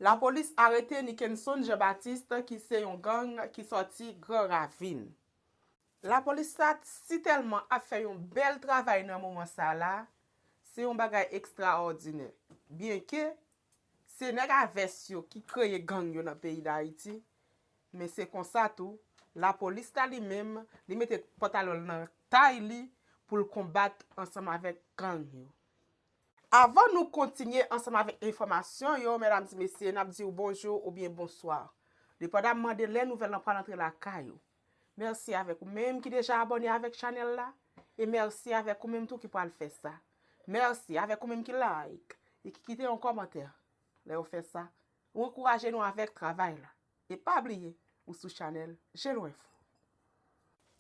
Lapolis arete Nickenson Jean Baptiste ki se yon gang ki sòti Gran Ravin. Lapolis la t sitèlman ap fè yon bèl travay nan moman sa la, se yon bagay ekstraòdinè. Byenke, se nèg a vès yo ki kreye gang yo nan peyi Dayiti, men se konsa tou, lapolis la li menm, li mete pantalon l nan tay li pou l konbat ansanm avèk gang yo. Avan nou kontinye ansanm avèk enfòmasyon yo, mèdam di mesye, n ap di w bonjou oubyen bonswa, depandamman de lè nouvèl lan pral antre lakay ou. Mèsi avèk ou menm ki deja abòne avèk chanèl la, e mèsi avèk ou menm tou ki pral fè sa. Mèsi avèk ou menm ki like e ki kite yon kòmantè. Lè ou fè sa, ou ankouraje nou avèk travay la. E pa bliye ou sou chanèl Jeloinfo.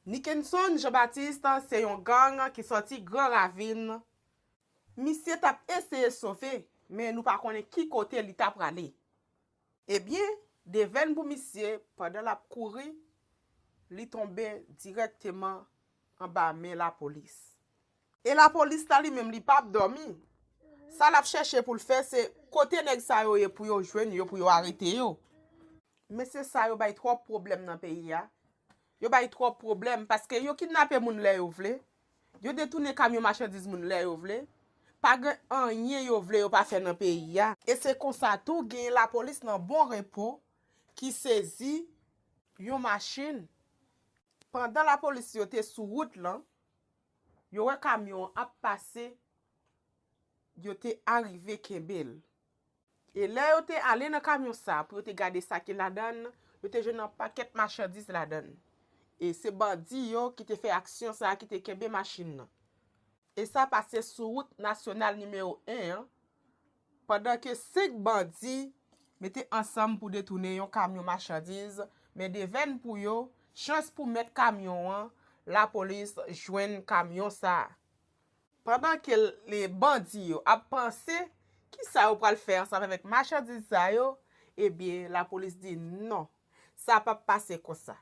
Nickenson Jean Baptiste se yon gang ki sòti Gran Ravin. Misye tap eseye sove men nou pa konnen ki kote li ta prale. Ebyen devèn pou misye pandan lap kouri li tonbe dirèkteman anba men lapolis. E la police la li menm li pap domi. Sa lap chèche poul fè se kote nèg sa yo ye pou yo jwenn yo pou yo arete yo. Mesye sa yo bay trop pwoblem nan peyi a, yo bay trop pwoblem paske yo kidnape moun lè yo vle, yo detounen kamyon machandiz moun lè yo vle, pa gen anyen yo vle yo pa fè nan peyi a. E se konsa tou genyen la police nan bon repo ki sezi yon machine pandan la police yo te sou wout lan, Yo wè kamyon an ap pase, yo te arive kenbe l. E lè yo te ale nan kamyon sa a pou yo te gade sa ki ladan l, yo te jwenn anpakèt machandiz ladan l. E se bandi yo ki te fè aksyon sa a ki te kenbe machin nan. E sa pase sou wout nasyonal nimewo 1 an, Pandan ke 5 bandi mete ansanm pou detounen yon kamyon machandiz men devèn pou yo, chans pou mèt kamyon an, lapolis jwenn kamyon sa a. Pandan ke bandi yo ap panse kisa yo pral fè ansanm avèk machandiz sa yo, ebyen lapolis di non, sa pap pase konsa.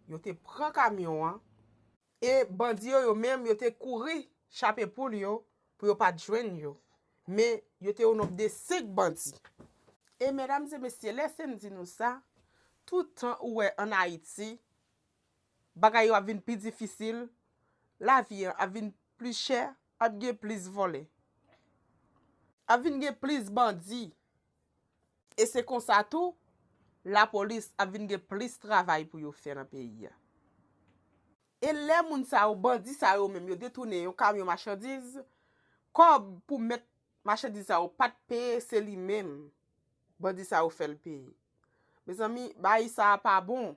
Yo te pran kamyon an e bandi yo yo menm yo te kouri chape poul yo pou yo pat jwenn yo. Men, yo te o nonb de 5 bandi. E medam e mesye, lese m di nou sa, tout tan ou wè an Ayiti, bagay yo ap vin pi difisil, lavi an ap vin pli chè, ap gen plis vòlè. Ap vin gen plis bandi. E se konsa tou, lapolis ap vin gen plis travay pou yo fè nan peyi a. E lè moun sa yo, bandi sa yo menm yo detounen yon kamyon machandiz, kòb pou mèt machandiz sa yo pat peye se li menm bandi sa yo fèl peye. Mezanmi bayi sa a pa bon.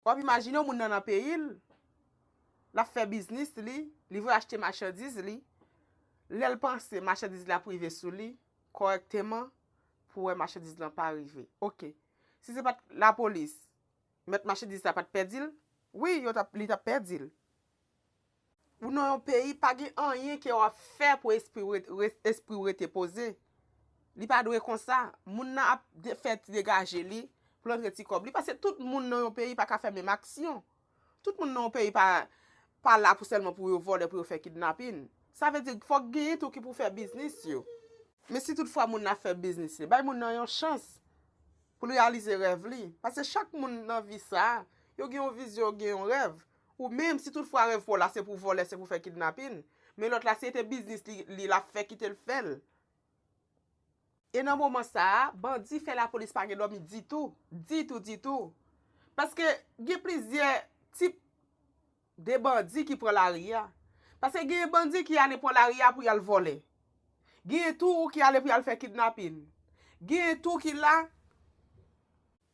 Wap imajine yon moun nan nan peyi l, lap fè biznis li, li vle achte machandiz li, lè l panse machandiz li ap rive sou li kòrèkteman pou wè machandiz lan pa rive. Ok, si se pat lapolis. Mèt machandiz la pat pèdi l? Wi yo tap li tap pèdi l. Ou nan yon peyi pa gen anyen ke wap fè pou espriw ret espriw rete poze li pa dwe konsa moun nan ap fè ti degaje li poul antre ti kòb li pase tout moun nan yon peyi paka fè menm aksyon tout moun nan yon peyi pa pa la pou sèlman pou yo vòlè pou yo fè kidnapin sa vle di fòk genyen tou ki pou fè biznis yo men si tout fwa moun nan ap fè biznis li bay moun nan yon chans. pou l reyalize rèv li. Pase chak moun nan vi sa, yo gen yon vizyon, yo gen yon rèv. Ou menm, si tout fwa rèv pa w la se pou vòlè, se pou fè kidnapin, men lòt la si e te biznis li l ap fè kite l fè l. E nan moman sa, bandi fè lapolis pa gen dòmi ditou, ditou, ditou. Paske gen plizyè tip De bandi ki pran lari a. Paske genyen bandi ki ale pran lari a pou y al vòlè. Genyen tou ki ale pou y al fè kidnapin. Genyen tou ki la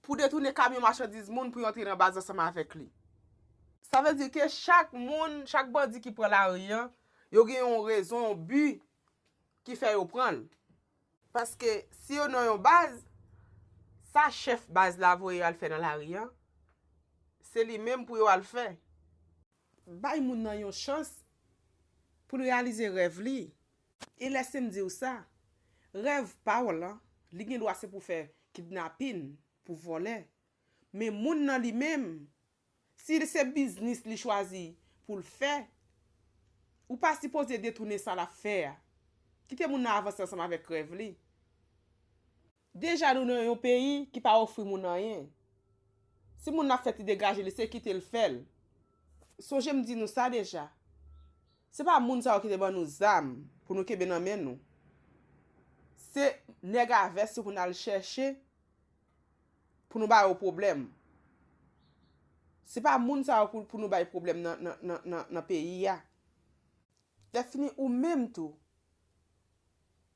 pou detounen kamyon machandiz moun pou yo antre nan baz ansanm avèk li. Sa vle di ke chak moun, chak bandi ki pran lari a, yo gen yon rezon, yon bi ki fè yo pran l. Paske si yo nan yon baz, sa chèf baz la voye yo al fè nan lari an, se li menm pou yo al fè. Bay moun nan yon chans pou l reyalize rèv li. E lèse m di w sa, rèv pa w lan, li gen dwa se pou fè kidnapin, pou vòlè. Men moun nan li menm, Si se biznis li chwazi pou l fè, ou pa sipoze detounen sa l ap fè a. Kite moun nan avanse ansanm avèk rèv li. Deja nou nan yon peyi ki pa ofri moun anyen. Si moun nan ap fè ti degaje li, se kite l fè l. Sonje m di nou sa deja. Se pa moun sa yo ki te ban nou zam pou nou kenbe nan men nou. Se nèg a vès yo pou n al chèche Pou nou ba yo pwoblèm. Se pa moun sa yo pou nou bay pwoblèm nan peyi a. Lèfini ou menm tou.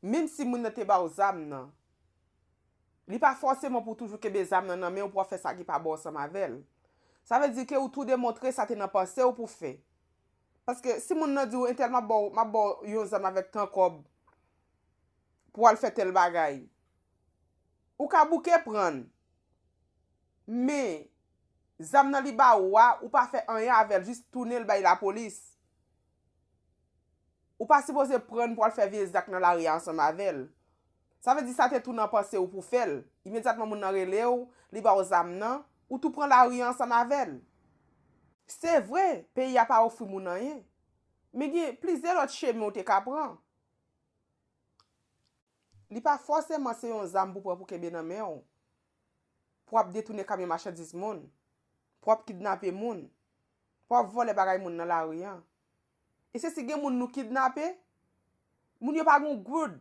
Menm si moun nan te ba w zam nan. Li pa fòseman pou toujou kenbe zam nan nan men w pou w ap fè sa ki pa bon ansanm avè l. Sa vle di ke ou tou demontre sa te nan panse w pou w fè. Paske si moun nan di w entèl m ap ba w yon zam avèk tan kòb pou w al fè tèl bagay. Ou ka bouke prann. Men. Zam nan li ba ou a, ou pa fè anyen avèl jis tounen l bay lapolis. Ou pa sipoze prann pou al fè vye zak nan lari a ansanm avèl. Sa vle di sa te tou nan panse ou pou fèl. Imedyatman moun nan rele ou, li ba ou zam nan, ou tou pran lari a ansanm avèl. Se vre, peyi a pa ofri moun anyen. Men gen plizyè lòt chemen ou te ka pran. Li pa fòseman se yon zam pou pran pou kenbe nan men w, pou ap detounen kamyon machandiz moun, pou ap kidnape moun, pou ap vòlè bagay moun nan lari an. E se si gen moun nou kidnape, moun yo pa gen yon goud,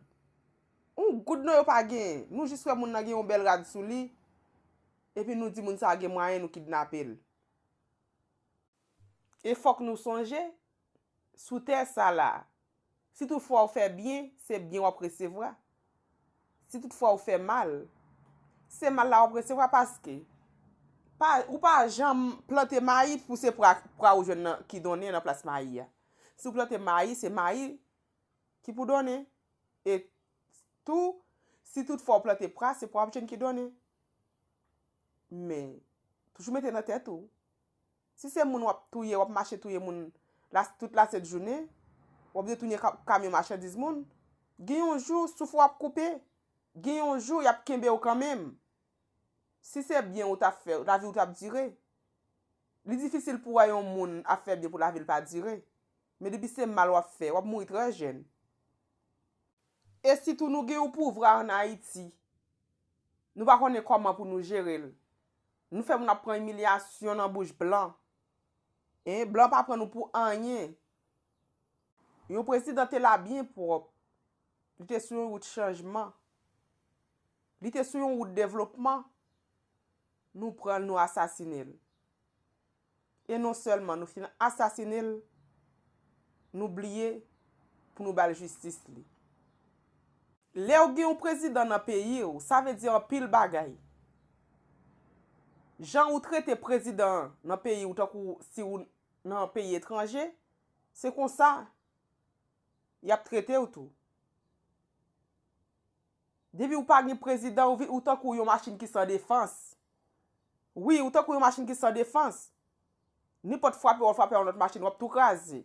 yon goud non yo pa gen, nou jis wè moun nan gen yon bèl rad sou li, epi nou di moun sa gen mwayen nou kidnape l. E fòk nou sonje, sou tè sa la, si tout fwa ou fè byen, se byen w ap resevwa. Si tout fwa ou fè mal, se mal la w ap resevwa paske, pa, ou pa janm plante mayi pou se pra, pra ou jwenn nan, ki donnen nan plas mayi a. Si ou plante mayi, se mayi ki pou donnen. E tou, si tout fwa ou plante pra, se pra w ap jwenn ki donnen. Men, toujou mete nan tèt ou. Si se moun wap touye wap mache touye moun tout la sent jounen wap detounen kamyon machandiz moun gen yon jou souf ou ap koupe gen yon jou yap kenbew kanmenm si se byen ou tap fè laviw tap dire li difisil pou wè yon moun ap fè byen pou lavil pa dire men depi se mal wap fè wap mouri trè jèn e sitou nou gen yon pouvra an ayiti nou pa konnen kòman pou nou jerel. Nou fè moun ap pran imilyasyon nan bouch blan. Hein, blan pa pran nou pou anyen. Yon prezidan te la byen pwòp. Li te sou yon wout chanjman. Li te sou yon wout devlopman. Nou pran l nou asasine l. E non sèlman nou fin asasine l, nou bliye pou nou ba l jistis li. Lè ou gen yon prezidan nan peyi ou, sa vle di anpil bagay. Jan ou trete prezidan an nan peyi ou tankou si ou nan yon peyi etranje, se konsa y ap trete ou tou. Depiw pa gin prezidan ou vin ou tankou yon machin ki san defans wi ou tankou yon machin ki san defans ninpòt frape wap frape yon lòt machin wap tou kraze.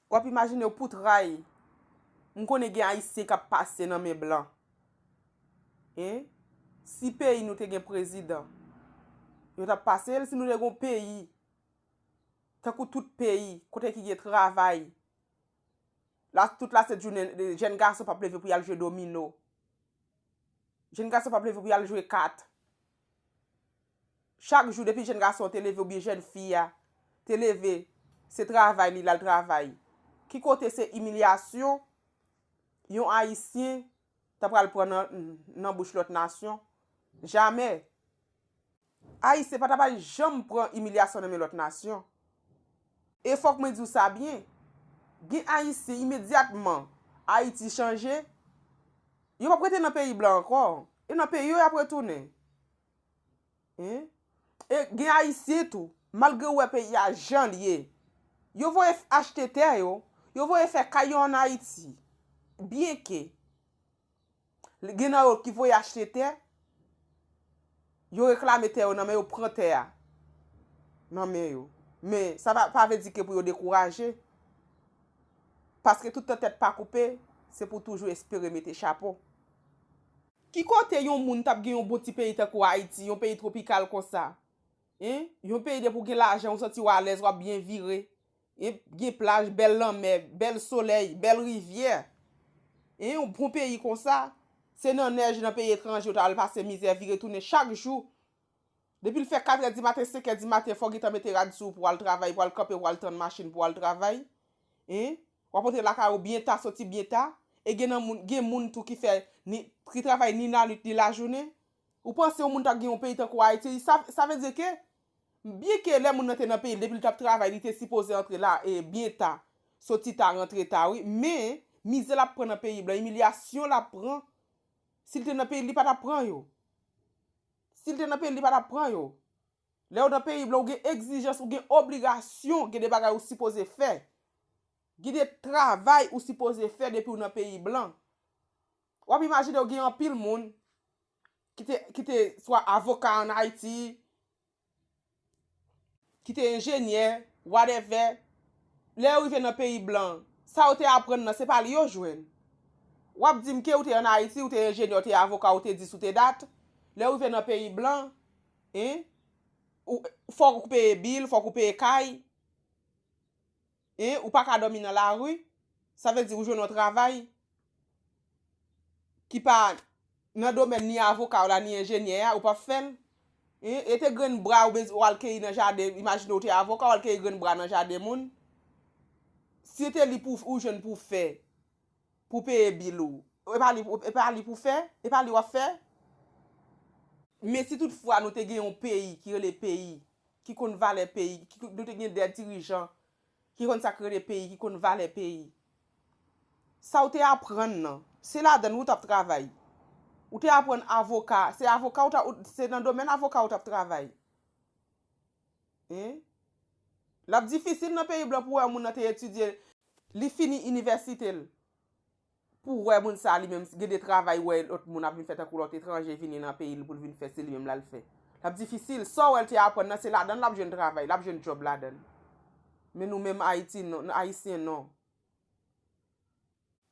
Wap imajinew pou tray m konnen gen ayisyen kap pase nan men blan hein si peyi nou te gen prezidan yo tap pasel si nou te gon peyi tankou tout peyi kote ki gen travay. La tout la sèt jounen, jèn gason pap leve pou yal jwe domino. Jèn gason pap leve pou yal jwe kat. Chak jou depi jèn gason te leve ou byen jèn fi ya, te leve, se travay li lal travay. Ki kote se imilyasyon, yon ayisyen ta pral pran nan bouch lòt nasyon, jamè. Ayisyen pa ta pral janm pran imilyasyon nan men lòt nasyon. E fòk mwen di w sa byen, gen Ayisyen imedyatman Ayiti chanje, yo p ap rete nan peyi blan ankò, e nan peyi yo y ap retounen. E gen Ayisyen tou, malgre yo wè peyi a jan l ye, yo voye achte tè yo, yo voye fè kay yo ann Ayiti, byenke Gen nan yo ki voye achte tè, yo reklame tè yo nan men yo pran tè a nan men yo. Men sa pa vle di ke pou yo dekouraje. Paske tout tan tèt pa koupe, se pou toujou espere mete chapo. Ki kote yon moun tap gen yon bon ti peyi tankou Ayiti, yon peyi tropikal konsa? Yon peyi depi w gen lajan ou santi w alèz, wap byen vire. Ep gen plaj, bèl lanmè, bèl solèy, bèl rivyè. E yon bon peyi konsa, se nan nèj nan peyi etranje ou ta al pase mizè vire tounen chak jou. Depi l fè katrè di maten, senkè di maten fò w gentan mete rad sou w pou w al travay, pou w al kanpe, pou w al tann machin pou w al travay. Hein? W ap antre lakay ou byen ta, soti byen ta. E gen nan moun, gen moun tou ki fè ni, ki travay ni lanwit ni lajounen. Ou panse yon moun ta gen yon peyi tankou Ayiti, sa, sa vle di ke. M byen ke lè moun nan te nan peyi l depi l tap travay li te sipoze antre la e byen ta, soti ta rantre ta wi, men mizè lap pran nan peyi blan, imilyasyon lap pran, si l te nan peyi l li pa tap pran yo. Si l te nan peyi l li pa tap pran yo. Lè ou nan peyi blan ou gen egzijans, ou gen obligasyon, gen de bagay ou sipoze fè. Gen de travay ou sipoze fè depi ou nan peyi blan. Wap imajine ou gen anpil moun. ki te swa avoka an Ayiti, ki te enjenyè, wadèvè, lè yo rive nan peyi blan, sa yo te aprann nan, se pa li yo jwenn. W ap di m ke ou te an Ayiti, ou te enjenyè, ou te avoka, ou te dis, ou te dat, lè ou rive nan peyi blan, en, fòk ou peye bil, fòk ou peye kay. Hein ou paka domi nan la rue sa vle di ou jwenn yon travay ki pa Nan domèn ni avoka w la ni enjenyè a ou pap fèl Hein e te grenn bra ou bezw al keyi nan jaden imajine ou te avoka wal keyi grenn bra nan jaden moun si e te li pou ou jwenn pou fè pou peye bil ou e pa li e pa li pou fè e pa li wap fè. Men si tout fwa nou te gen yon peyi ki rele peyi ki konn valè peyi nou te gen 2 dirijan ki konn sak rele peyi ki konn valè peyi sa ou te aprann nan se ladann ou tap travay ou te aprann avoka se avoka ou ta se nan domèn avoka ou tap travay lap difisil nan peyi blan pou wè yon moun nan te etidye li fini inivèsite l. Pou wè moun sa li menm gen de travay wè lòt moun ap vin fè tankou lòt etranje vini nan peyi l pou l vin fè se li menm l al fè. L ap difisil. Sa w wè l te aprann nan se ladan l l ap jwenn travay, l ap jwenn djòb ladan l. Men nou menm Ayiti non, Ayisyen non.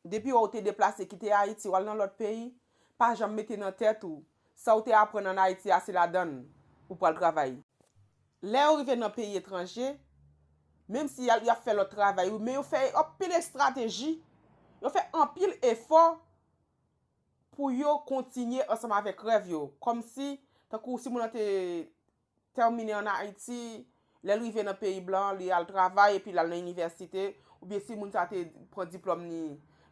Depi wè w te deplase kite Ayiti w al nan lòt peyi, pa janm mete nan tèt ou sa w te aprann an Ayiti a se ladan l ou pral travay. Lè yo rive nan peyi etranje, menm si y ap fè lòt travay wi, men yo fè anpil estrateji, yo fè anpil efò pou yo kontinye ansanm avèk rèv yo. Kòm si, tankou si moun an te tèmine an Ayiti, lè l rive nan peyi blan an, li al travay epi l al nan inivèsite, oubyen si moun sa te pran diplòm li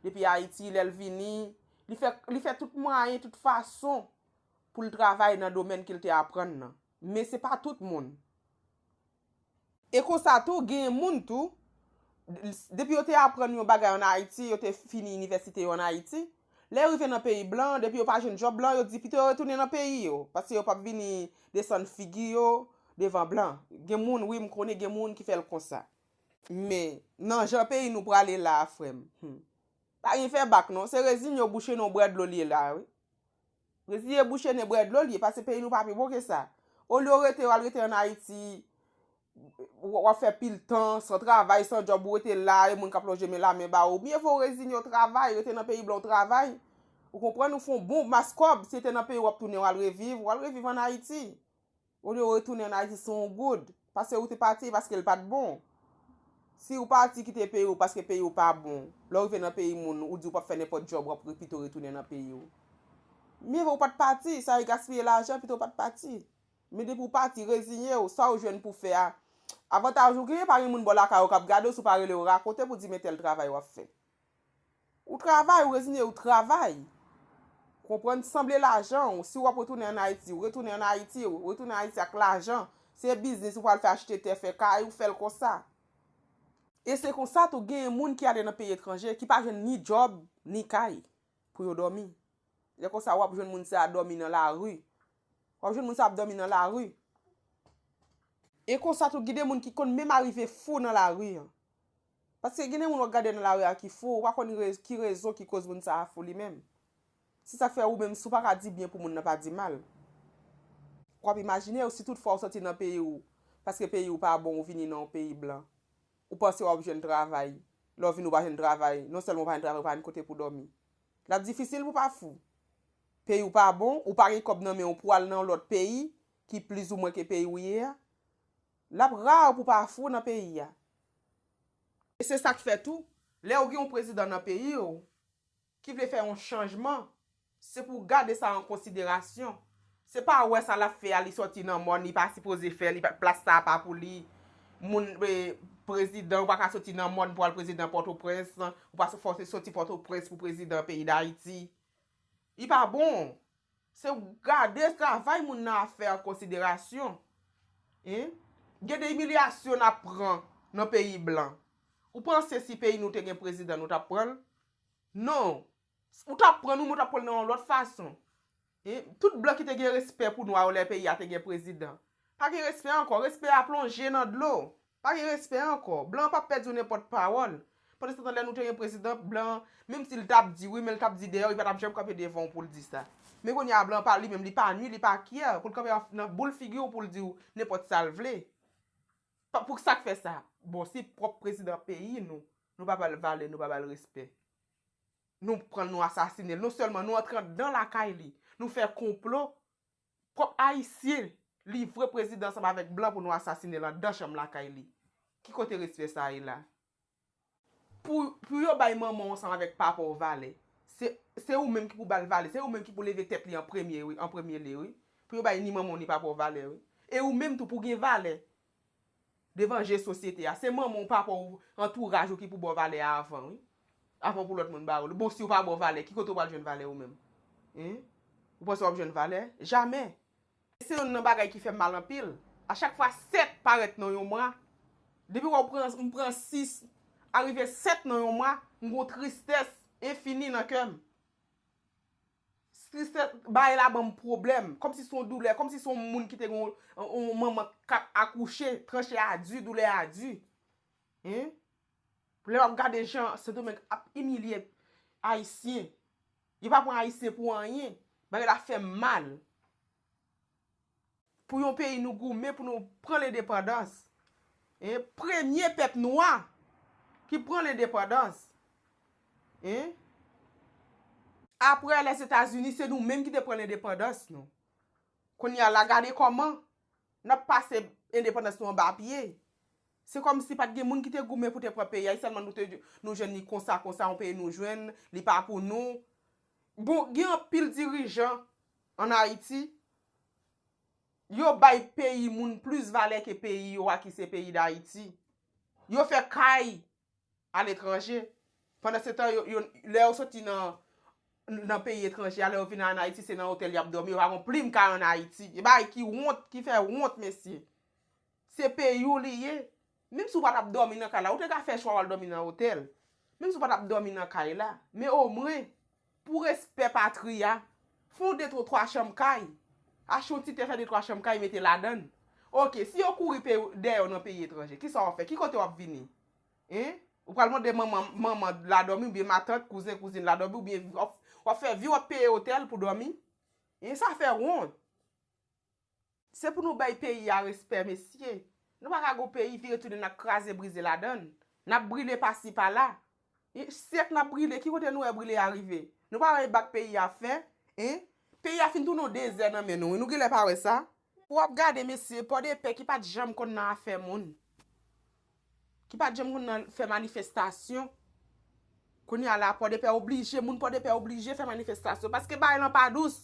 depi Ayiti, lè l vini, li fè tout mwayen, tout fason pou l travay nan domèn ke l te aprann nan. Men se pa tout moun. E konsa tou, genyen moun tou, depi yo te aprann yon bagay an Ayiti, yo te fini inivèsite yo an Ayiti, lè yo rive nan peyi blan, depi yo pa jwenn djòb blan, yo di pito yo retounen nan peyi yo, paske yo pap vini desann figi yo devan blan. Gen moun, wi, m konnen gen moun ki fè l konsa. Men, nan jan peyi nou prale la a, frè m, hum, pa gen fè bak non. Se rezigne ou bouche non, w bwè dlo l ye la a, wi. Resi e bouche nen brè dlo li ye pase peyi nou pa pi bon ke sa. Olye w rete w al rete an Ayiti w ap fè pil tan san travay san djòb ou rete la e moun k ap lonje men la men ba ou mye vo w rezinye w travay rete nan peyi blan w travay ou konprann ou fon bon mas kòb si e te nan peyi w ap tounen w al reviv w al reviv an Ayiti. Ou dwe retounen an Ayiti si w good. Pase ou te pati e paske l pa t bon. Si ou pati kite peyi ou paske peyi ou pa bon, lè ou rive nan peyi moun, ou di ou p ap fè nenpòt djòb, w ap re pito retounen nan peyi ou. Mye vo ou pa t pati, sa yo gaspiye lajan, pito ou pa t pati. Men depi ou pati, reziye ou, sa ou jwenn pou fè a, avantaj ou genyen pa gen moun bò lakay ou k ap gade ou si ou pa rele yo rakonte pou di men tèl travay w ap fè. Ou travay ou rezine ou travay. Konprann sanble lajan ou. Si wap retounen an Ayiti, ou retounen an Ayiti. Ou retounen an Ayiti ak lajan. Se biznis ou pral fè achte tè, fè kay, ou fèl konsa. E se konsa tou genyen moun ki ale nan peyi etranje ki pa jwenn ni djòb, ni kay pou yo dòmi. Lè konsa wap jwenn moun sa dòmi nan lari. Wap jwenn moun sa ap dòmi nan lari. E konsa tou gide moun ki konn menm arive fou nan lari. Paske gen de moun wap gade nan lari a ki fou, ou pa konn ki rezon ki koz moun sa a fou li menm. Se sak fè ou menm si w paka di byen pou moun nan pa di mal. Ou ap imajine ou si tout fwa ou soti nan peyi ou paske peyi ou pa bon ou vini nan yon peyi blan. Ou panse wap jwenn travay, lè w vini ou pa jwenn travay, non sèlman ou pa jwenn travay ou pa jwenn kote pou dòmi. Lap difisil pou pa fou. Peyi ou pa bon, ou pa gen kòb nan men ou pou al nan yon lòt peyi ki plizoumwen ke peyi ou ye a. Lap rare pou pa fou nan peyi a. E se sak fè tou, lè ou gen yon prezidan nan peyi w ki vle fè yon chanjman, se pou w gade sa an konsiderasyon. Se pa wè sa lap fè a li sòti nan mòn, li pa sipoze fè li, plas sa a pa pou li. Moun, prezidan, ou pa ka sòti nan mòn pou al prezidan Pòtoprens, ou pa sòti Pòtoprens pou prezidan peyi Dayiti. Li pa bon. Se w gade travay moun nan ap fè an konsiderasyon. Hein? Gen de imilyasyon nap pran nan peyi blan. Ou panse si peyi nou te gen prezidan nou tap pran l? Non. Ou tap pran nou men ou tap pran l nan yon lòt fason. Hein? Tout blan ki te gen respè pou nwa yo lè peyi a te gen prezidan. Pa gen respè ankò. Respè a plonje nan dlo. Pa gen respè ankò. Blan an pap pèdi w nenpòt pawòl. Pandansetan lè nou te gen prezidan, blan an, menm si l t ap di wi men l t ap di dèyè w, li pa t ap janm kanpe devan w pou l di sa. Men kounye a blan an pa li menm, li pa nwi, li pa kyè pou l kanpe nan boul figi w pou l di w nenpòt sa l vle. Pou sa k fè sa? Bon si pwòp prezidan peyi nou, nou pa ba l valè, nou pa ba l respè. Nou pran l nou asasine l. Non sèlman nou antre andan lakay li, nou fè konplo Pwòp ayisyen livre prezidan ansanm avèk blan pou nou asasine l andan chanm lakay li. Ki kote respè sa ye la? Pou yo bay manman w ansanm avèk papa w valè. Se ou menm ki pou ba l valè. Se ou menm ki pou leve tèt li an premye wi, an premye lye wi. Pou yo bay ni manman w ni papa w valè wi. E ou menm tou pou w gen valè. Devan je sosyete a. Se manman w, papa w, antouraj ou ki pou ba w valè a avan wi. Avan pou lòt moun ba w li. Bon si w pa ba w valè, ki kote w pral jwenn valè ou menm? Hein? Ou panse w ap jwenn valè? Jamè! Se yonn nan bagay ki fè m mal anpil. A chak fwa 7 parèt nan yon mwa, depi wè w pran, m pran 6, arive 7 nan yon mwa, m gen yon tristès enfini nan kè m. Stress bagay la banm pwoblèm, kòmsi son doulè, kòmsi son moun ki te gon yon manman kap akouche, tranche a di, doulè a di. Hein? Lè wap gade jan Sendomeng ap imilye ayisyen, yo pa pran ayisyen pou anyen, bagay la fèm mal. Pou yon peyi nou goumen pou nou pran lendepandans. Hein premye pèp nwa ki pran lendepandans. Hein. Aprè les Etats Unis se nou menm ki te pran lendepandans nou. Kounye a la gade kòman nap pase endepandans nou anba pye. Se kòm si pat gen moun ki te goumen pou te pran peyi a e sèlman nou te nou jwenn li konsa konsa yon peyi nou jwenn li pa pou nou. Bon gen anpil dirijan. An Ayiti, yo bay peyi moun plis valè ke peyi yo a ki se peyi Dayiti. Yo fè kay aletranje, pandan se tan yo, lè yo soti nan, nan peyi etranje a, lè yo vin an Ayiti se nan otèl y ap dòmi, yo pa gon plim kay an Ayiti. E bagay ki wont, ki fè wont mesye. Se peyi w li ye. Menm si w pa t ap dòmi nan kay la, ou te ka fè chwa w al dòmi nan otèl. Menm si w pa t ap dòmi nan kay la, men omwen, Pou respè patri a, fon de tro twa chanm kay, achte yon ti tè fè de twa chanm kay mete ladann. Ok, si yo kouri pe dèyè w nan peyi etranje, kisa w ap fè? Ki kote w ap vini? Hein? Ou pral mande manman, manman la dòmi oubyen matant, kouzen, kouzin la dòmi oubyen w ap fè vi w ap peye otèl pou dòmi? Hein, sa fè wont. Se pou nou bay peyi a respè mesye. Nou pa ka gon peyi vire tounen nap kraze brize ladann. Nap brile pasi pala. Syèk nap brile ki kote nou wè brile a rive. Nou pa wè bak peyi a fè. Hein. Peyi a fin tounen yon dezè nan men nou wi nou genlè pa wè sa. Pou wap gade mesye, pòdepè ki pat janm konn nan afè moun. ki pat janm konn nan fè manifestasyon kounya la pòdepè oblije moun pòdepè oblije fè manifestasyon paske bagay lan pa dous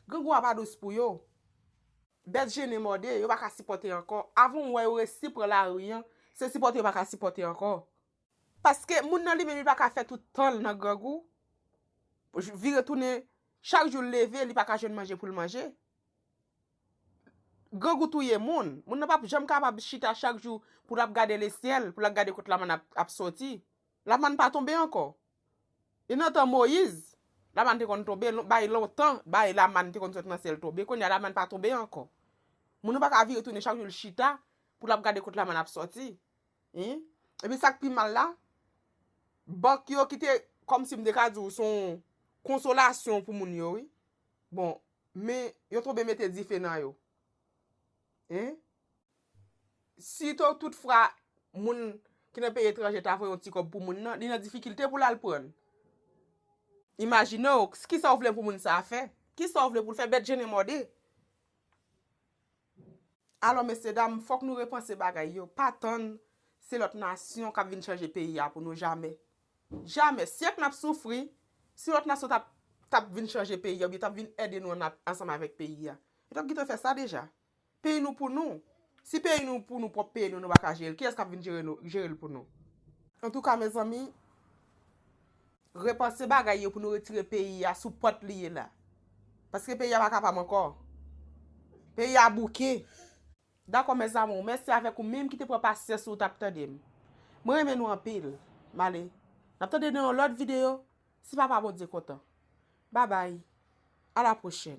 grangou a pa dous pou yo bèt jene mòde yo pa ka sipòte ankò avan ou wè yo resi pran lari an se sipòte yo pa ka sipòte ankò paske moun nan li menm li pa ka fè tout tan l nan grangou vire tounen chak jou l leve li pa ka jwenn manje pou l manje. Grangou touye moun. Moun nan pap janm kapab chita chak jou pou lap gade le syèl, pou lap gade kot lamann ap soti. Lamann pa tonbe ankò. E nan tan Moyiz, lamann te konn tonbe, bay lontan, bay lamann te konn sot nan syèl tonbe. Kounye a lamann pa tonbe ankò. Moun nan pa ka vire tounen chak jou l chita pou lap gade kot lamann ap soti. Hein? Epi sak pi mal la, bank yo ki te, kòmsi m te ka di w, s on konsolasyon pou moun yo wi. Bon, Men yo tonbe mete dife nan yo. Hein? Si to tout fra moun ki nan peyi etranje ta voye yon ti kob pou moun nan, li nan difikilte pou lal prann. Imagine w, kisa w vle pou moun sa fè? Kisa w vle pou l fè? Bèt je ne mòde. Alò mesye dam fòk nou repanse bagay yo pa tann se lòt nasyon kap vin chanje peyi a pou nou jamè jamè syèk nap soufri si lòt nasyon tap tap vin chanje peyi a oubyen tap vin ède nou an ansanm avèk peyi a yo tap gintan fè sa deja peyi nou pou nou si peyi nou pou nou pwòp peyi nou nou paka jere l kiyès kap vin jere nou jerel pou nou antouka mezanmi. Repanse bagay yo pou nou retire peyi ya sou pòt li ye la. Paske peyi ya pa kapab ankò. Peyi ya bouke. Dakò mes amour men se avek ou minm ki te pran pasyans ou tap tandem mwen renmen nou anpil male nap tande nan yon lot video si papa bondye kontan babay a la prochèn.